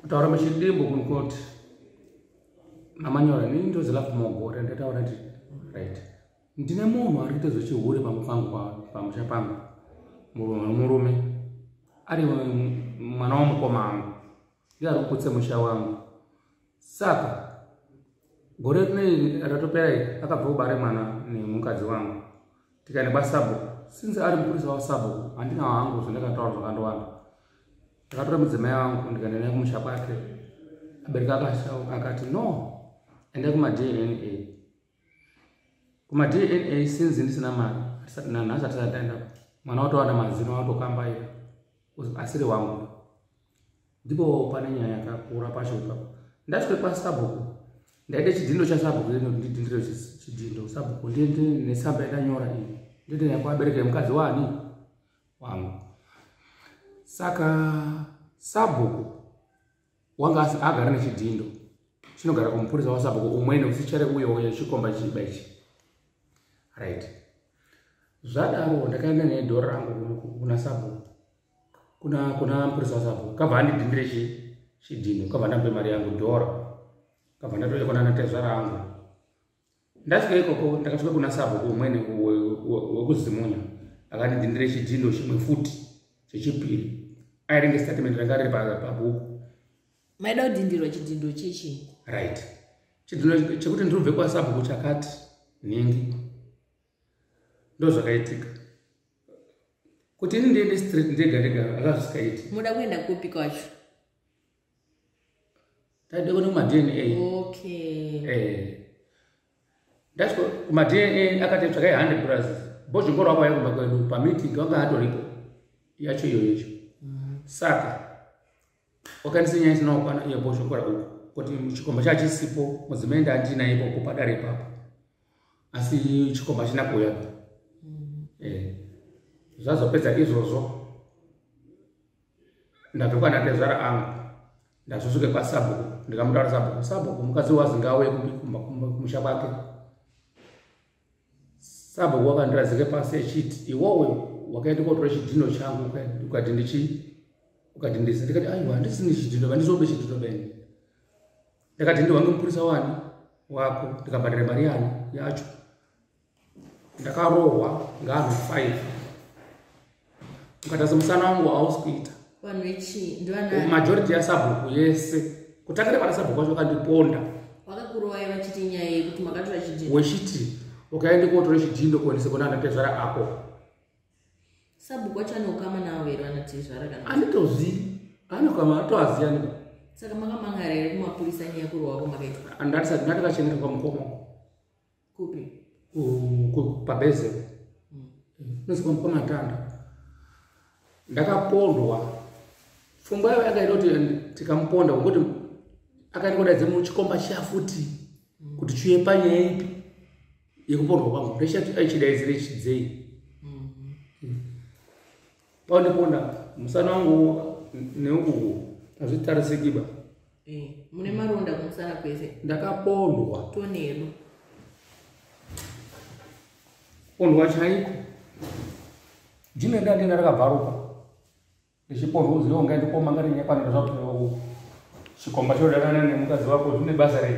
kutaura machidimbo kunoti namanyora nini ndozi lafu mogore ndataura ti right ndine munhu ari kuita zvechihure pamwe pangu pamusha pangu murume ari mwana wamukoma angu iye ari kukutse musha wangu saka gore rinei ratopera iri akabva kubare mwana nemukadzi wangu tikaenda kwasabhuku since ari mupurisa wasabhuku handina wangu zvandakataura zvakandowanda ndakatora mudzimai wangu ndikaenda naye kumusha kwake abereka akati no enda kumadna kumadna since ndisina mari nanhasi atisataenda mwana watowana mazino watokambaira asiri wangu ndipo pane nyaya yakakura pacho ipapo ndasvika kwasabhuku ndaita chidhindo chasabhuku ino ndidhindire chidhindo sabhuku ndiende nesamba yakanyora iyi ndiende nayo kwabereka yemukadzi wani wangu saka sabhuku wanga agara nechidhindo chinogara kumupurisa wasabhuku umwene usichare uyo uyo chikomba chiba ichi right zvadaro ndakaenda nedhora rangu kuna sabhuku kuna kuna mupurisa wasapo kabva andidhindire chi chidhino kabva ndambe mari yangu dhora kabva ndatoya kuna natezvara angu ndasvika ikoko ndakasvika kuna sabo kumwene wekuzimunya akandidhindire chidhino chimwe futi chechipiri airenge statement ranga riri pabhuku maida kudhindirwa chidhindo chechi right chidhino chekuti ndirubve kwasabuku chakati nhingi ndozvakaitika kuti ini ndiende straight ndega ndega akazvisikaiti muda kuenda kupi kwacho taida kuenda kumadna okay eh that's what kumadna akati tsvakai hundred plus bozvingoro wako yakumba kwedu pameeting wanga atoripo yacho iyoyo icho mm. saka Wakanisa nyaya isina kukwana iye boshokora uku kuti chikomba chachisipo mudzimai ndandina ikoko padare ipapo asi chikomba china kuuya mm. eh, zvazopedza izvozvo ndabvekwana ndezvara angu ndazosvike kwasabhuku ndikamutaura sabhuku sabhuku mukadzi wazi ngauye kumusha kwake sabhuku wakandirazika pasi achiti iwowe wakaenda kotora chidhino changu ukati ndichi ukati ndisi ndikati aiwa handisini chidhino vandizobe chidhino bene ndakati ndiwange mupurisa wani wako ndikabhadhara mari yani yacho ndakarohwa ngaanhu five ukatasa musana wangu hausi kuita vanhu vechii ndivanani majority yasabhuku yese kutangira pana sabhuku vacho vakandiponda vakakurovai vachiti nyaya yekuti makatora chidhindo wechiti ukaende kotora chidhindo kuendese kuna anatezvara ako sabhuku wacho ane ukama navo here vanatezvara kana anditozivi ane ukama atoaziva nika saka makamangara here kumapurisa nyaya kurohwa kwamakaitwa andati sati ndati vachengetwa kwamukoma kupi pabezero nozikwa mupamatanda ndakapondwa pfungwa yavo yakaita kuti tikamuponda ngokuti akaita kudaidze muchikomba chiya futi kuti chiuye panyaya ipi yekupondwa kwangu ndechati aichidaidzire chidzei paundiponda musana wangu neukuku hazvitarisekiba eh, mune maronda kumusana kwese ndakapondwa tonero pondwa chaiko jino ndandina rakabvaruka ndichipondwa uziva ungaindikoma ngarinyakwanira zvakuewa uku chikomba chodanana nemukadzi wako zvine basa rei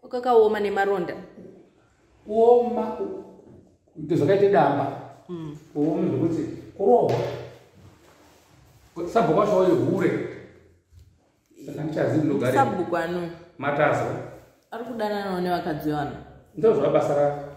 kwakakaoma nemaronda kuoma kuti zvakaita damba mm. kuoma zvekuti kurohwa sabhuku wacho wayo hure saka ndichazivi ndogare sabhuku ano matazo ari kudananawo nevakadzi vano ndozvabasa rako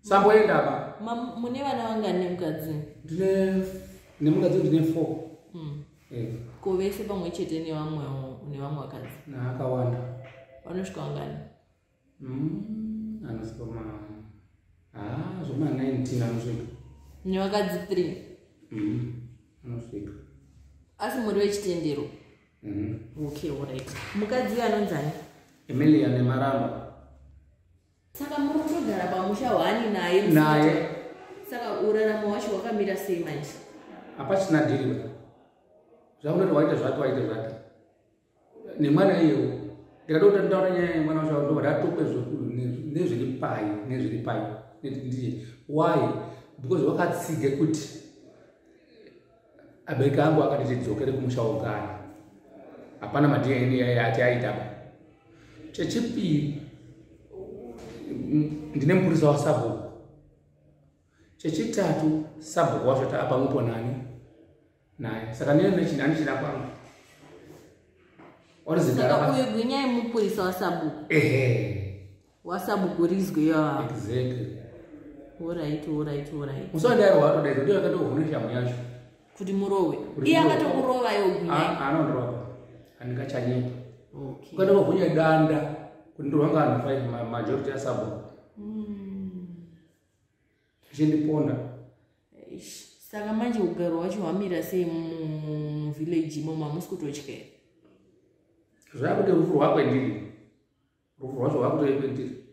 samboenda apa mune vana vangani nemukadzi ndine nemukadzi ndine four hmm. eh. ko vese pamwe chete nevamwe nevamwe vakadzi naakawanda vanosvika vangani hmm, anosvika ma ah, zvoma 19 anosvika nevakadzi three hmm, anosvika asi muri vechitendero okay orit mukadzi uyo anonzani emilia nemaramba saka muri kutogara pamusha hwani naye naye saka uraramo wacho wakamira sei manje hapachina dhiriwa zvaunoti waita zvati waita zvati nemwana iyewo ndikada kuti ndaura nyaya yemwana wacho ndobva ndatope nezviri pai nezviri pai ndiye why because wakatsiga kuti abereki angu akati tidzokere kumusha wogara hapana madna yaati aitaba chechipiri ndine mupurisa wasabhuku chechitatu sabhuku wacho taapamwepo nani naye saka ndine nechini andichina kwangu orizigara uyu gwinyai mupurisa wasabhuku ehe wasabugurizwe yaa exactly orit orit orit musandairo watodaidza ndiyo akatohune shamu yacho kuti murowe iye akatokurova yoanondrova ah, ah, andingachanyepa ukada vahunya danda kuti ndorwanga anhu fai majority asabo hmm. zvichindiponda saka manje ugaro wacho hwamira sei muvillage imomo hamusi kutotya zvakuti rufu rwakwe ndiri rufu rwacho rwakutoe kwendiri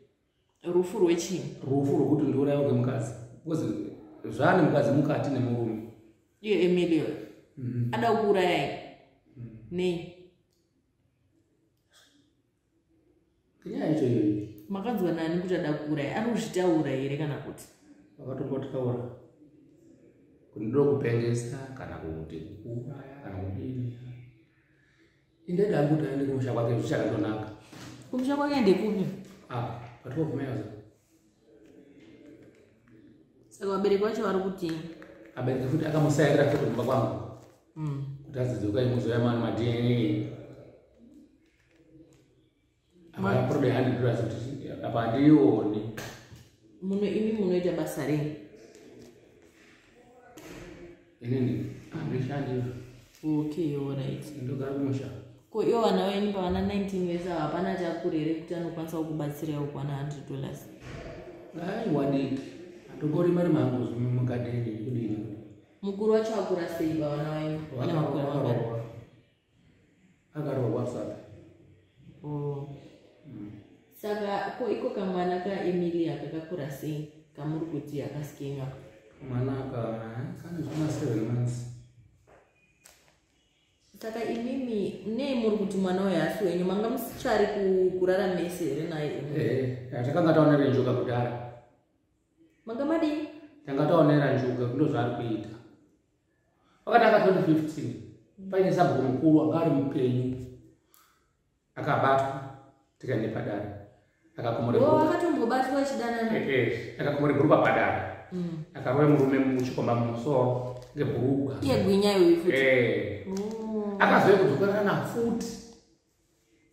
rufu rwechii rufu rwekuti ndiuraiwa kwemukadzi bcause zvaane mukadzi mukati nemurume iyo emilio mhm. ada kuurayai mhm. nei kenyaya yacho iyoyi makanzwa nani kuti ada kuuraya ari kuzvitaura here kana kuti vakatombotaura kuti ndiro kupengesa kana kuti kuuraya kana kudini Inde dangu taende kumusha kwake zvichakandonaka. Kumusha kwake ndekupi? Ah, patwa kumeyaza. Saka vabereki vacho vari kuti abereki futi akamusairira futi kumba kwangu. Mm. Kuti adzidzoka imuzoya mani ma DNA. Hapana problem ya 100 dollars kuti apa handiioni. Muno imi munoita basa rei? Inini handishandi. Okay, all right. Ndogara kumusha. Ko iwo vana venyu pavana 19 vese ava hapana chakure here kuti anokwanisa kukubatsira iwo kuwana 100 dollars? Ai wadiki. Handogori mari mangu mugadeni kudini. Mukuru wacho akura sei pavana venyu? Vana vakura vakura. akarohwa saka oh. mm. saka ko iko kamwana ka emilia kakakura sei kamuri kuti akaskinga mwana aka kana zvina seven months saka imimi nei muri kuti mwana uyo hasi wenyu manga musichari kurara mese here naye eh, takanga taonera njuka kudhara manga madii tanga taonera njuka kundo zvaari kuita pakatanga 2015 paine sabhuku mukuru anga ari mupenyu akabatwa tikaende padare akakomorekatombobatwa chidanana eh, eh, akakomore bhurukwa padare mm. akaroya murume muchikomba mumusoro ngebhurukwa iye gwinyayo ifuti eh. oh. akazouya kudzokerana futi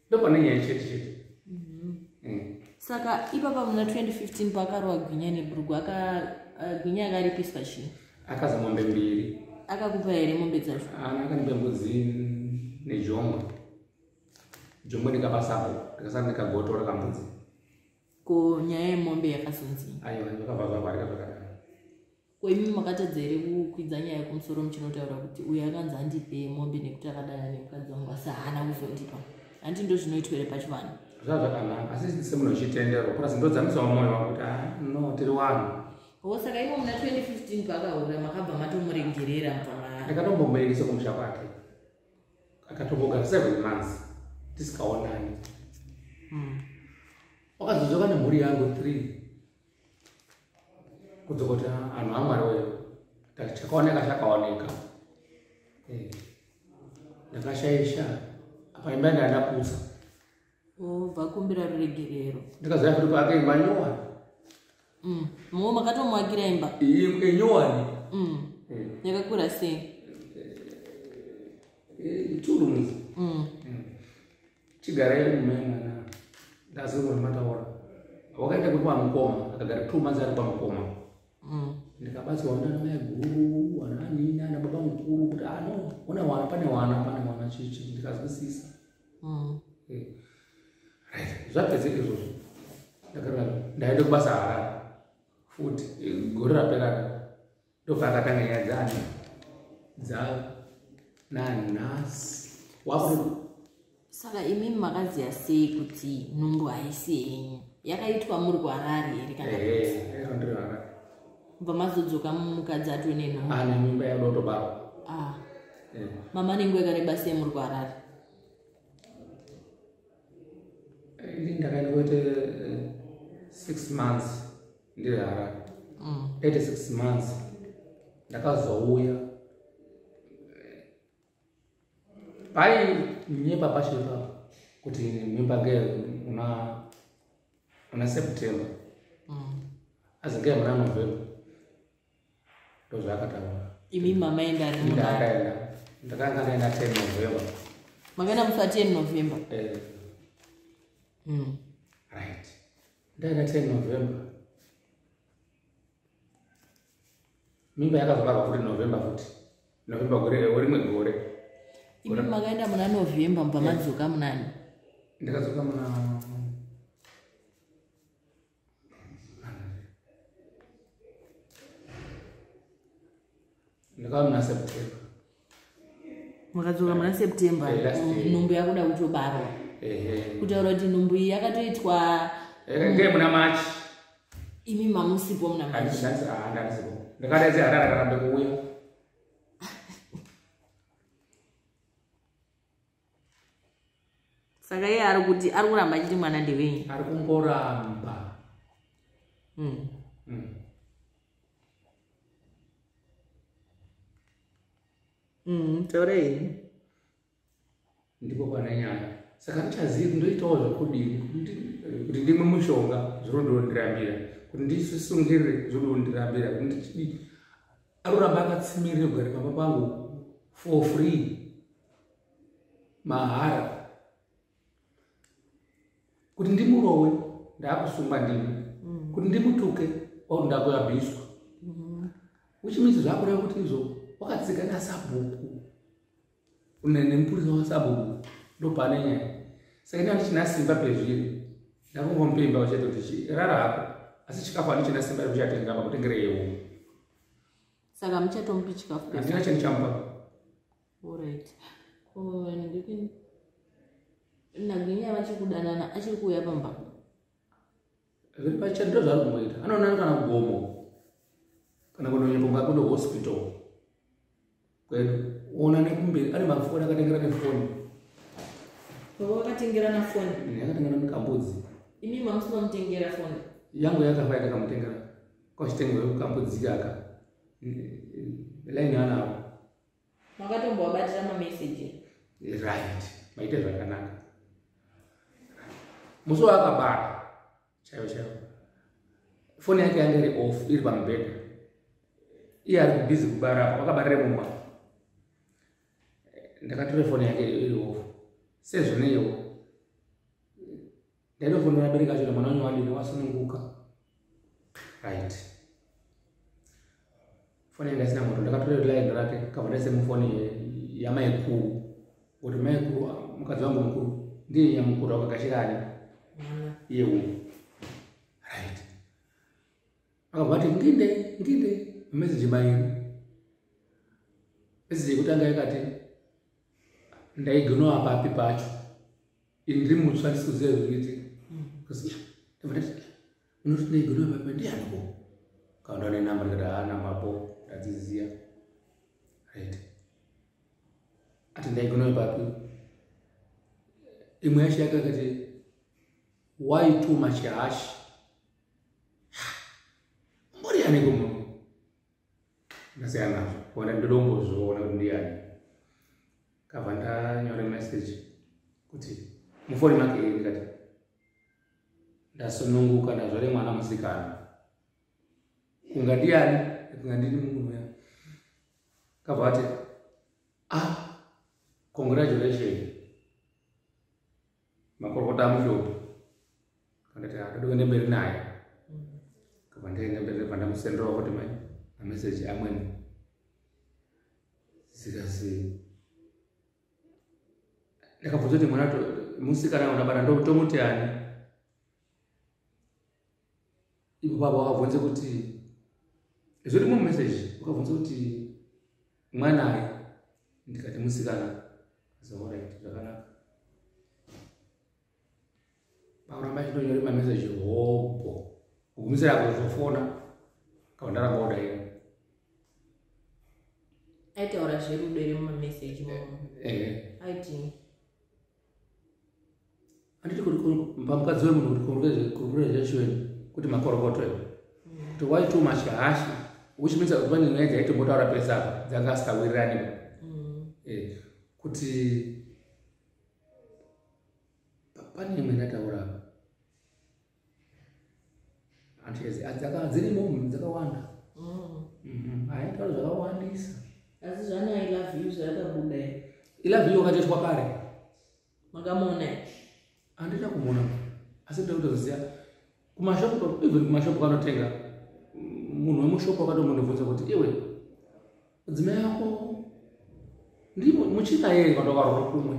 ndopane nyaya chete chete mhm. eh. saka ipapa muna 2015 paakarowa gwinya nebrugu eh, gwinya akaripiswa chii akaza mombe mbiri akakupa here mombe dzacho ana akanipa mbudzi nejombo jombo ndikapa sabo ndikasara ndikagotora kambudzi ko nyaya yemombe yakazonzi aiwa ndokabva zvavarika zvakanaka ko imi makatadza here kukwidza nyaya yekumusoro muchinotaura kuti uyo akanzi andipe mombe nekuti akadana nemukadzi wangu asi haana kuzondipa handi ndozvinoitwa here pachivanhu zvazvakanaka asi semunhu uchitenderwa plus ndodzamisawo mwoyo wangu kuti ah, no tiri wanhu ho saka imo muna 2015 paakahura makabva matomuregerera mvaa ndakatombomuregeresa kumusha kwake akatombogara seven months tisikaonani hmm. wakazodzoka nemhuri yangu three kudzokota anhu amwari weyo ndati chakaoneka chakaoneka eh, ndakashaisha apa imba yanga yandapusa obva kumbira ruregerero ndikaziva kuti paake imba nyowani mm, mo makatomwakira imba enyowani mm. eh. yakakura sei eh, two rooms mm. chigarai kumai mwana ndazirwa nemataura wakaita kuri kwamukoma akagara two months ari kwamukoma mm. ndikabatsirwa nana mai guru ana anini ana baba mukuru kuti ano ah, una wana pane wana pane wana chichi ndikazwisisa mm. eh. zvapedzeka izvozvo ndakarara ndaenda kubasa harara futi eh, gore raperara ndobva akatanga nyaya dzani dza nanhasi wakuti saka imi makaziva sei kuti nhumbu haisi henyu yakaitwa muri kuharari here kana bva mazodzoka mukadzi atwe nenhumbu ane mimba yadotobarwa ah. mama nenguva yakareba sei muri kuharari Ini ndakaenda kuite eh, six months ndiri Harare. Mm. Ete six months ndakazouya pai nyepa pacho ipapo kuti mimba nge una una September mm. azi nge muna November ndozvaakataura imi mama enda ndakaenda ndakanga ndaenda ten november makaenda mufa ten november eh. mm. right ndaenda ten november mimba yakazobarwa kuti november kuti november gore rimwe gore imi makaenda muna november mubva madzoka munani ndakadzoka muna ndakava muna september makadzoka muna september nhumbu yakuda kutobarwa kutaura kuti nhumbu iyi yakatoitwa ngei muna march imi mamusipo muna march ndakadaidzi harara karambe kuuya saka iye ari kuti ari kuramba achiti mwana ndevenyu ari kungoramba mm. Mm. Mm, taurei ndiko kwana nyaya saka ndichazivi kuti ndoitawo zvekudini kuti ndimwe mushonga zvinondirambira kuti ndisungirire zvinondirambira kuti ndichidii aruramba akatsimirira kugara pamba pangu for free mahara kuti ndimurowe ndaakusungwa ndimi mm. kuti ndimutuke or ndakuabhiswa mm-hmm. which means zvakureva kuti izvo wakatsika nasabhuku une nemupurisa wasabhuku ndopane nyaya saka ini handichina simba pezviri ndakungompe imba uchete kuti chirara hako asi chikafu handichina simba rekuchatenga apa kutengere yewo saka muchatomupi chikafu andina chani chamupa orit ko ndiki naginya vachikudanana achiri kuuya pamba zviri pachati ndo zvaari kumboita anoonana kana kugomo kana kunonyeponga kuno hospital kwedu ona nekumberi ane mafoni akatengera nefoni baba vakatengera nafoni akatengera nekambudzi imi mamusi mamutengera foni yangu yakafa yakakamutengera kwachitengera kambudzi kaka laini anavo makatombovabatira mameseji right maite zvakanaka musi waakabara chaivo chaivo foni yake yange iri off iri pamubhedha iye ari kubhizi kubara apo vakabarire mumba ndakatora foni yake iri off sezvineiwo ndaitofonera abereki acho kuti mwana wanyu wadini wasununguka right foni yanga isina moto ndakatora line rake kabva ndaise mufoni yamaikuru kuti maikuru ah, mukadzi wangu mukuru ndiye nyamukuru akagashirani iye umu right akabva ati nginde nginde meseji baini meseji yekutanga yakati ndaigonowa papi pacho ini ndiri mutsva ndisikuziva zvinoitika ndianiko kaunda une namba ndikati haa nambapo ndadziziya right ati ndaigonoyo papi imwe yacho yake akati why too much hash mbori yaniko mama ndasiyana nazvo kuona ndodombozviona kuti ndiyani kava ndanyore message kuti mufoni make ii ndikati ndasununguka ndazvare mwana musikana kunga ndiyani kunga ndini munhu ya kava ati ah congratulation makorokota amushopi akati akada kuenda mberi naye kava ndaenda mberi nebva ndamusenderawo kuti mai ameseji amweni zikasi ndakabvunza kuti mwana musikana unabara ndotomuti ani ivo baba vakabvunza kuti zviri mumeseji vakabvunza kuti mwanai ndikati musikana zaorit zvakanaka pakuramba chitonyore mameseji hobho kugumisira apo zvofona kava ndaramba odaira aitaura zverudo iri mumameseji eh, eh. aiti handiti kuti pamukadzi wemunhu kuti congratulation kuti makorokoto iwe to why too much hashi which means kuti pane nyaya dzaitombotaura pese apa dzanga asikawirirani mm. eh, kuti pane imwe ndataura apa dzirimo dzakawanda aitwaro zvakawandisa asi zvana ilove you zvakabuda ilove you wakatoitwa kare makamona handina kumona asi ndoda kutoziva kumashopu even kumashopu kanotenga munhu wemushopu akatomundibvunza kuti iwe mudzimai yako ndimo muchina yei vandovarora kumwe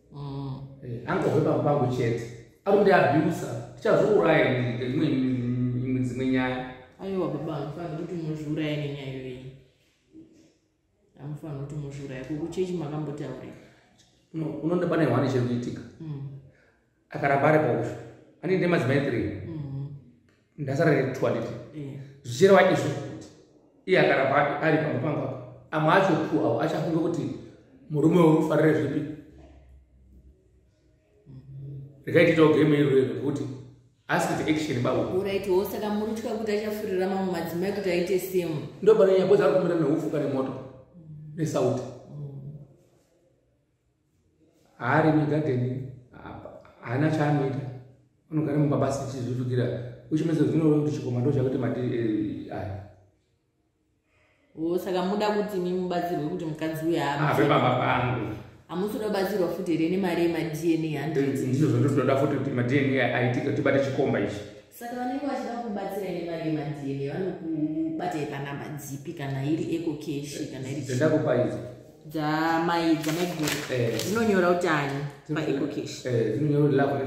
mm. eh, angove pamba pangu chete ari kuti abusa tichazviuraya imwe imwe dzimwe nyaya aiwa baba amufanira kuti muzviuraya nenyaya iyoyi amufanira kuti muzviuraya kokuchechi makambotaurei unoda pane hwane chiri kuitika mm. akaramba ari pausho aninde madzimai three mm. ndasara netoilet eh. zvichireva izvo kuti iye akaramba ari pamba pangu apa amwe acho pu avo achafunga kuti murume wekufarira zvipi rikaititawo game iro rero kuti askit action babo uraitiwo saka muri tya kuti achafurira mamwe madzimai kuti aite same ndo pane nyabo dzari kumira neufuka nemoto nesauti haari migadheni haana chaanoita anogara mumba basi tichizvitukira uchimedza zvinova kuti chikoma ndo chakuti mati eh, aya oh, saka muda kuti mi mubatsirwe kuti mukadzi uyo ave ah, baba pangu hamusi kuda kubatsirwa futi here nemari yemadna handizvo eh, zvandotoda futi kuti madna aitike tibate chikomba ichi saka vanenge vachida kubatsira ine mari yemadna vanokubatai panamba dzipi kana iri eco cash kana iri dzandakupaizi dzamai dzamaiguru eh. dzinonyora kuti ani maeco cash eh, dzinonyora kuti